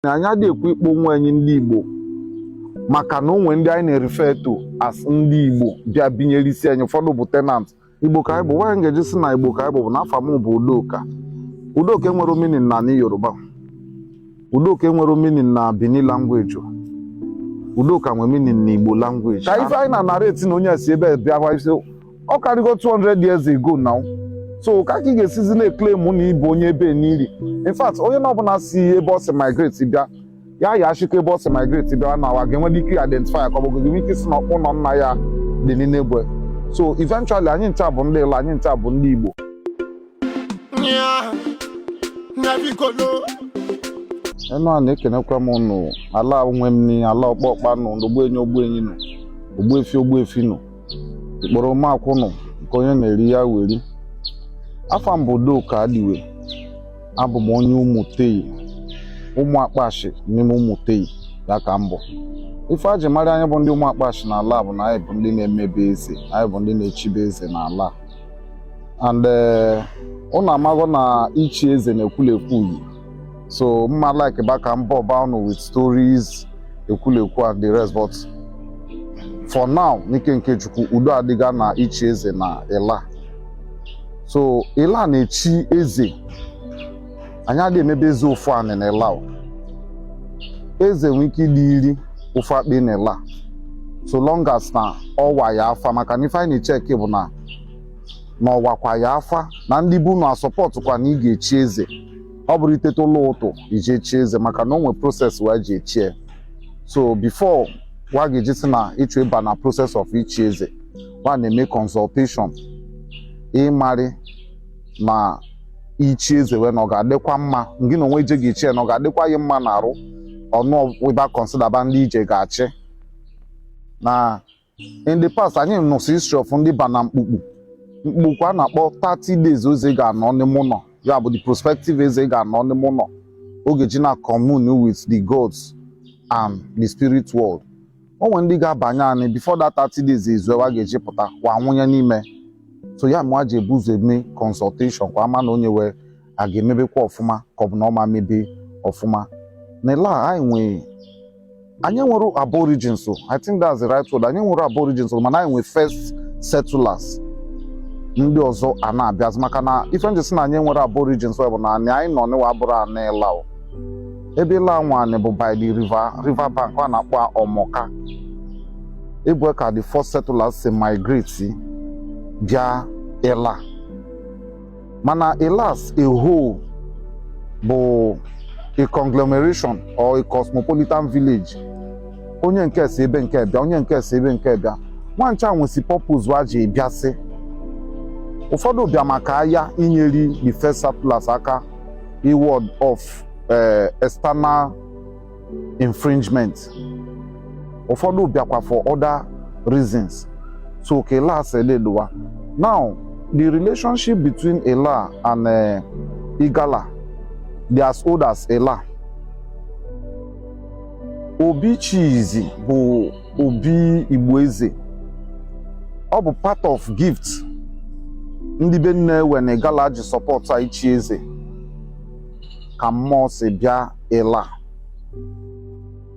na anyị adị ekwu ịkpọ onwe anyị ndị Igbo maka na o nwe ndị anyị na-erefer to as ndị Igbo bịa binyere isi anyị ụfọdụ bụ tenant Igbo ka anyị bụ why m ga-eji sị na Igbo ka anyị bụ bụ na afa m bụ Udoka Udoka enwerọ meaning na ni Yoruba Udoka enwerọ meaning na Benin language Udoka nwere meaning na Igbo language ka ife anyị na-narrate na onye si ebe bịa ọ karịgo 200 years ago now so ka ka ị ga-esizi na-eclaim na ị bụ onye ebe n'iri in fact onye na ọbụna si ebe ọ si migrate bịa ya ya achịkọ ebe ọ si migrate bịa na wa ga-enwe ike identify ka ọ bụ ga-enwe ike sị na ọkpụ ụnọ nna ya dị n'Enugwu so eventually anyị ncha bụ ndị Ịla anyị ncha bụ ndị Igbo Enuani ekenekwa m ụnụ Ala nwe m ni ala ọkpọkpa nụ ogbuenyi ogbuenyi nụ ogbuefi ogbuefi nụ ikporo makwụ nụ nke onye na-eri ya weri afa m bụ Udoka Adiwe abụ m onye Umutei ụmụ akpashi n'ime Umutei ya ka m bụ ife a ji mara anyị bụ ndị ụmụ akpashi n'ala bụ na anyị bụ ndị na-emebe eze anyị bụ ndị na-echibe eze n'ala and eh, ụnụ amago na ichi eze na ekwulekwu yi so m ma like ba ka m bore ba ụnụ with stories ekwulekwu and the rest but for now n'ike nke chukwu udo adịga na ichi eze na Ịla so Ịla na-echi eze anyị adị emebe eze ofu anị na Ịla o. eze nwee ike ịdị iri ofu akpị na Ịla so long as na ọwa ya afa maka na ife anyị na-echeck bụ na na ọwakwa ya afa na ndị be unu asupportkwa na ị ga-echi eze ọ bụrọ iteta ụla ụtụtụ i je echi eze maka na o nwe process wa ji echie so before wa ga-eji sị na ị chọ ịba na process of ichi eze wa na-eme consultation ịmarị ma ichi eze wee na ọ ga-adịkwa mma ngị na onwe i je ga-echie na ọ ga-adịkwa gị mma na arụ ọnụ ị ba considerba ndị ị je ga-achị na in the past anyị nụsị history of ndị ba na mkpukpu mkpukpu a na-akpọ 30 days eze ga-anọ n'ime ụnọ ya bụ the prospective eze ga-anọ n'ime ụnọ ọ ga-eji na commune with the gods and the spirit world o nwe ndị ga-abanye anyị before that 30 days ezue wa ga-eji pụta wa anwụnye n'ime so ya me wa ji ebu ụzọ eme consultation ka wa ma na onye wee a ga-emebekwa ọfụma ka ọ bụ na ọ ma mebe ọfụma na Ịla anyị nwee anyị nwere aborigines o i think that's the right word anyị nwere aborigines o mana anyị nwee first settlers ndị ọzọ a na-abịazi maka na ife n ji sị na anyị nwere aborigines o bụ na anị anyị nọ n'ịwa abụrọ anị Ịla o ebe ịla anwanị bụ by the river bank a na-akpọ ọmọka ebe ka the first settlers si migrate bịa ịla mana ịla as a whole bụ a conglomeration or a cosmopolitan village onye nke si ebe nke bịa onye nke si ebe nke bịa nwa ncha nwesi purpose wa ji bịasị ụfọdụ bịa maka aya inyeri the first settlers aka iward off eh, external infringement ụfọdụ bịakwa for other reasons so ka ila si eleluwa now the relationship between ila and eh, igala they are as old as ila obi chizi bụ obi igbo eze ọ bụ part of gift ndị be nne we n'igala ji support ichi eze ka mmụọ si bịa ịla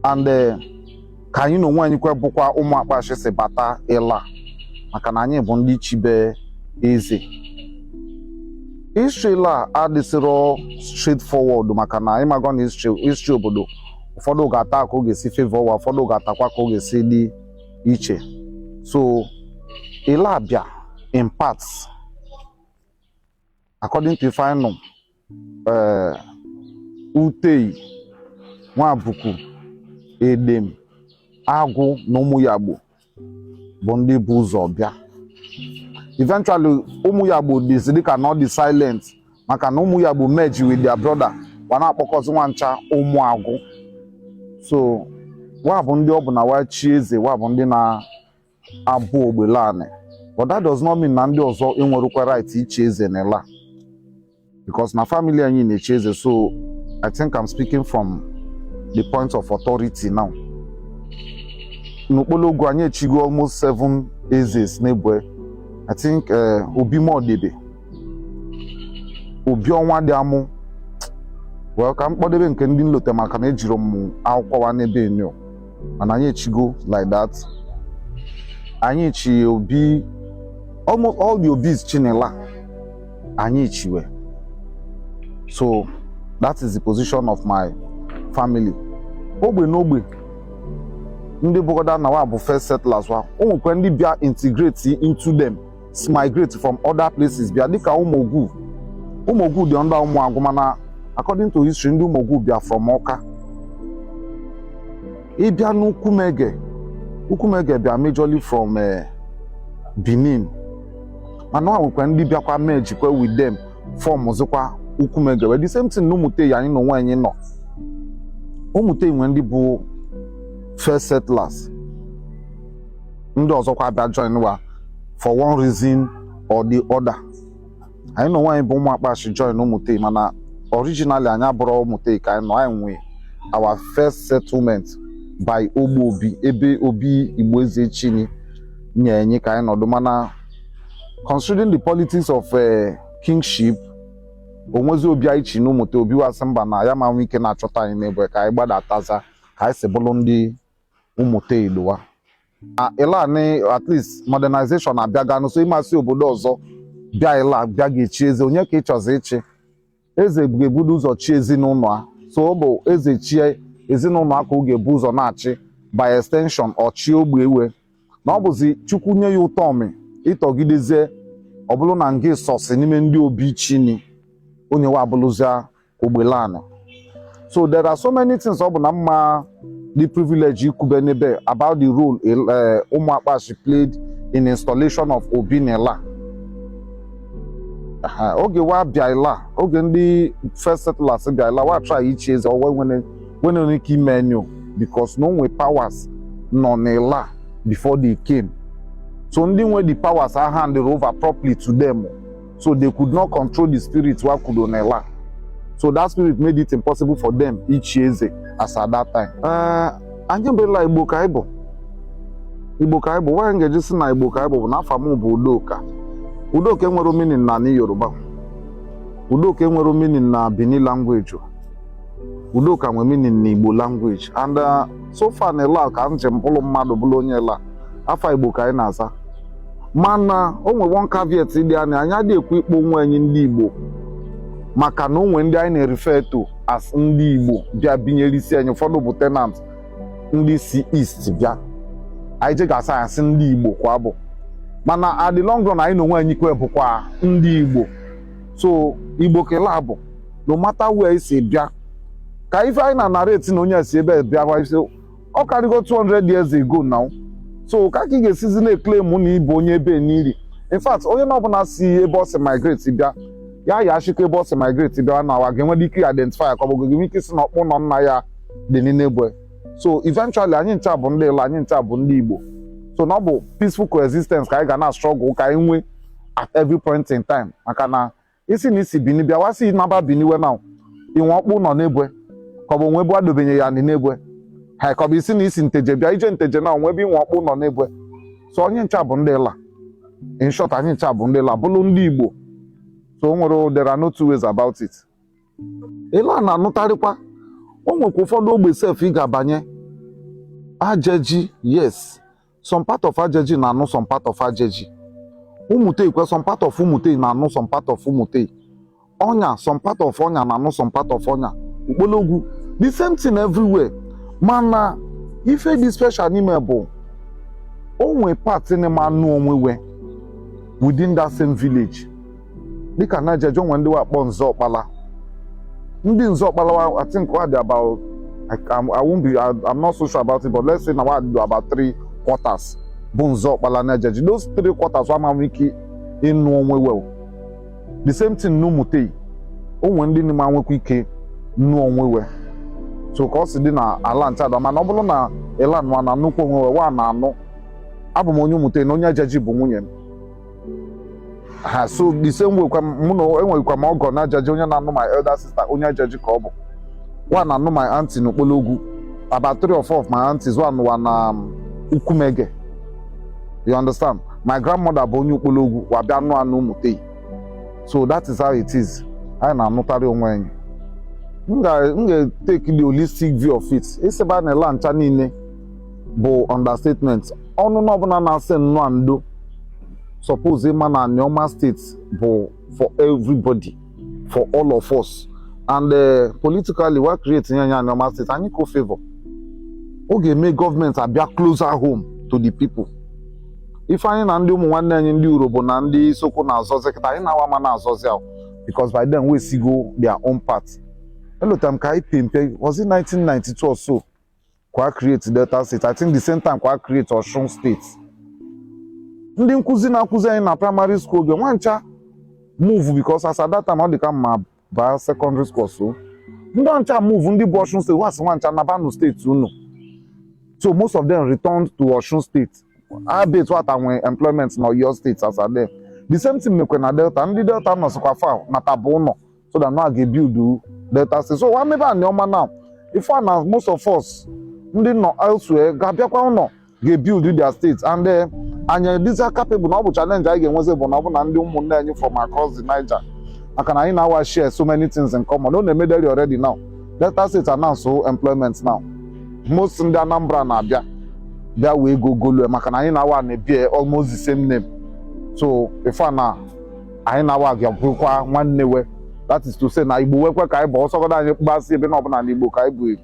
and eh, ka anyị na onwe anyị kwa bụkwa ụmụ akpashi si bata ịla maka na anyị bụ ndị chibe eze history ịla adịsịrọ straightforward maka na ị mago na history obodo ụfọdụ ga-ata ka ọ ga-esi favor wa ụfọdụ ga-atakwa ka ọ ga-esi dị iche so ịla bịa in parts according to ife anyị nụ utei nwabukwu edem agwu na ụmụyagbo bụ ndị bu ụzọ bịa eventually ụmụyagbo dịzi dịka na ọ dị silent maka na ụmụyagbo merge with their brother wa na-akpọkọzi nwa ncha ụmụ agwu so wa bụ ndị ọ bụ na wa chi eze wa bụ ndị na abụ ogbelani but that does not mean na ndị ọzọ enwerọkwa right ichi eze na ịla because na family anyị na-echi eze so I think I'm speaking from the point of authority now n'ukpologwu anyị echigo almost seven ezes n'ebue I think uh, Obi Modebe Obi Ọnwadịamụ well ka m kpọdebe nke ndị m lote maka na ejirọ m akwụkwọ wa n'ebe enyo mana anyị echigo like that anyị chi obi almost all the obis chi n'ịla anyị chi we so that is the position of my family ogbe n'ogbe ndị bụgodu na wa bụ first settlers wa o nwekwa ndị bịa integrate into them migrate from other places bịa dịka ụmụogwu ụmụogwu dị under ụmụagwụ mana according to history ndị ụmụogwu bịa from ọka ịbịa n'ukwumege ukwumege bịa majorly from eh, benin mana o nwekwa ndị bịakwa mergekwa with them formụzịkwa ukwumege wee the same thing na ụmụtei anyị na onwe anyị nọ ụmụtei nwe ndị bụ first settlers ndị ọzọkwa abịa join wa for one reason or the other anyị na onwe anyị bụ ụmụ akpashi join ụmụtei mana originally anyị abụrọ ụmụtei ka anyị nọ anyị nwee our first settlement by ogbe obi ebe obi igbo eze chini nye anyị ka anyị nọdụ mana considering the politics of eh, kingship o nwezi obi anyị chi na ụmụtei obi wa sị mba na ya ma nwe ike na-achọta anyị n'ebe ka anyị gbadataza ka anyị si bụrụ ndị ụmụtei iluwa ila nị at least modernization abịaga so ị ma si obodo ọzọ bịa ila bịa ga-echi eze onye ka ị chọzi ichi eze ga-ebudo ụzọ chi ezinụnọ a so ọ bụ eze chie ezinụnọ a ka ọ ga-ebu ụzọ na-achị by extension ọ chị ogbe ewe na ọ bụzi chukwu nye ya ụtọmị ị tọgidezie ọ bụrụ na ngị sọsị n'ime ndị obi chini onye wa abụlụzia Ogbelani so there are so many things ọ bụ na mma the privilege ikwube n'ebe about the role eh, ụmụ akpashi played in installation of Obi n'Ila oge wa bịa ila oge ndị first settlers bịa ila wa try ichi eze wa enwerọ ike ime enyo because na o nwe powers nọ n'ila before they came so ndị nwe the powers ahandirọ over properly to them So they could not control the spirit wa kudo n'Ila. So that spirit made it impossible for them ichi eze as at that time. Uh, anyị bụ Ila Igbo ka anyị bụ. Igbo ka anyị bụ, why anyị ga-eji sị na Igbo ka anyị bụ bụ na afa m bụ Udoka. Udoka enwerọ meaning na ni Yoruba. Udoka enwerọ meaning na Bini language. Udoka nwere meaning na Igbo language. And uh, so far na Ila ka m ji bụrụ mmadụ bụrụ onye Ila. Afa Igbo ka anyị na-aza. mana o nwe one caveat dị anya anyị adịghị ekwu ịkpọ onwe anyị ndị Igbo maka na o nwe ndị anyị na-erefer to as ndị Igbo bịa binyere isi anyị ụfọdụ bụ tenant ndị si East bịa anyị je ga-asa asị ndị Igbo kwa bụ mana at the long run anyị na onwe anyị kwe bụkwa ndị Igbo so Igbo ka Ila bụ no matter where i si bịa ka ife anyị na-anarrate na onye si ebe bịa ọ karịgo 200 years ago now so ka ka ị ga-esizi na-eclaim na ị bụ onye ebe n'iri in fact onye na ọbụla si ebe ọ si migrate bịa ya ya achịkọ ebe ọ si migrate bịa na wa ga-enwe ike identify ka ọ bụ gị nwee ike ịsị na ọkpụnọ nna ya dị n'ebwe so eventually anyị ncha bụ ndị Ịla anyị ncha bụ ndị Igbo so na ọ bụ peaceful coexistence ka anyị ga na-struggle ka anyị nwee at every point in time maka na ị sị na i si bini bịa wa sị naba bini we na i nwe ọkpụnọ n'ebwe ka ọ bụ o nwe ebe wa dobenye ya nị n'ebwe ha ka ọ bụ ị sị na i si nteje bịa i je nteje na o nwe ebe i nwe ọkpụnọ n'ebwe so onye ncha bụ ndị ịla in short anyị ncha bụ ndị ịla bụlụ ndị igbo so o nwere there are no two ways about it ịla a na-anụtarịkwa o nwekwa ụfọdụ ogbe sef ị ga-abanye ajaji yes some part of ajaji na-anụ some part of ajaji ụmụtei kwa some part of ụmụtei na-anụ some part of ụmụtei ọnya some part of ọnya na-anụ some part of ọnya ukpologwu the same thing everywhere mana ife dị special n'ime bụ o nwe part na-ama anụ onwe we within that same village dịka na ajaji o nwe ndị wa kpọ nzọ ọkpala ndị nzọ ọkpala wa- I think wa dị about I, I'm- I won't be I, I'm not so sure about it but let's say na wa dị about three quarters bụ nzọ ọkpala na ajaji those three quarters wa ama nwe ike ịnụ onwe we the same thing n'ụmụtei o nwere ndị na-ama nwekwa ike ịnụ onwe we so ka ọ si dị na ala nchada mana ọ bụrụ na ịla nwa na-anụkọ onwe we wa na-anụ abụ m onye ụmụtei na onye ajaji bụ nwunye m ha so the same way kwa m- mụ nwa enwekwa m ọgọ na ajaji onye na-anụ my elder sister onye ajaji ka ọ bụ wa na-anụ my aunty na ukpologwu about three or four of my aunties wa nụ wa na um, ukwumege you understand my grandmother bụ onye ukpologwu wa bịa nụa na ụmụtei so that is how it is anyị na-anụtarị onwe anyị m ga- m ga-take the holistic view of it ị sịba na ịla ncha niile bụ understatement onye na ọbụla na-asị nnọọ ndo suppose ịma na Anioma steeti bụ for everybody for all of us and uh, politically wa create nye anyị Anioma steeti anyị ka ọ favor ọ ga-eme gọọmenti abịa closer home to the people ife anyị na ndị ụmụ nwanne anyị ndị urhobo na ndị isoko na-azọzi kịta anyị na wa ama na-azọzi ahụ because by then wesịgo their own part elotara m ka anyị pe mpe was it 1992 or so ka wa create Delta steeti I think the same time ka wa create Osun steeti ndị nkụzi na-akụzi anyị na praịmarị skuul oge nwa ncha move because as at that time ọ dị ka m abaa sekọndịrị skuul so ndị ahụ ncha move ndị bụ Osun steeti wa sị wa ncha naba na steeti unu so most of them returned to Osun steeti albeit wata nwee employment na Oyo steeti as at then the same thing mekwe na Delta ndị Delta nọ sịkwa fa nataba ụlọ so that now ga-ebuild Delta State so maybe Anioma now ị fụ na most of us ndị nọ elsewhere ga-abịakwa ụnọ ga-ebuild their state and eh, anyị dịza capable na ọ bụ challenge anyị ga-enwezi bụ na ọ bụ na ndị ụmụnne anyị from across the Niger maka na anyị na wa share so many things in common ọ na-emederi already now Delta State announce employment now most ndị Anambra na-abịa bịa wee go golue maka na anyị na wa na-ebear almost the same name so ife na anyị na wa ga-abụkwa nwanne we that is to say na Igbo wekwa ka anyị bụ ọ sọgodu anyị gbasị ebe na ọbụna na Igbo ka anyị bụ eji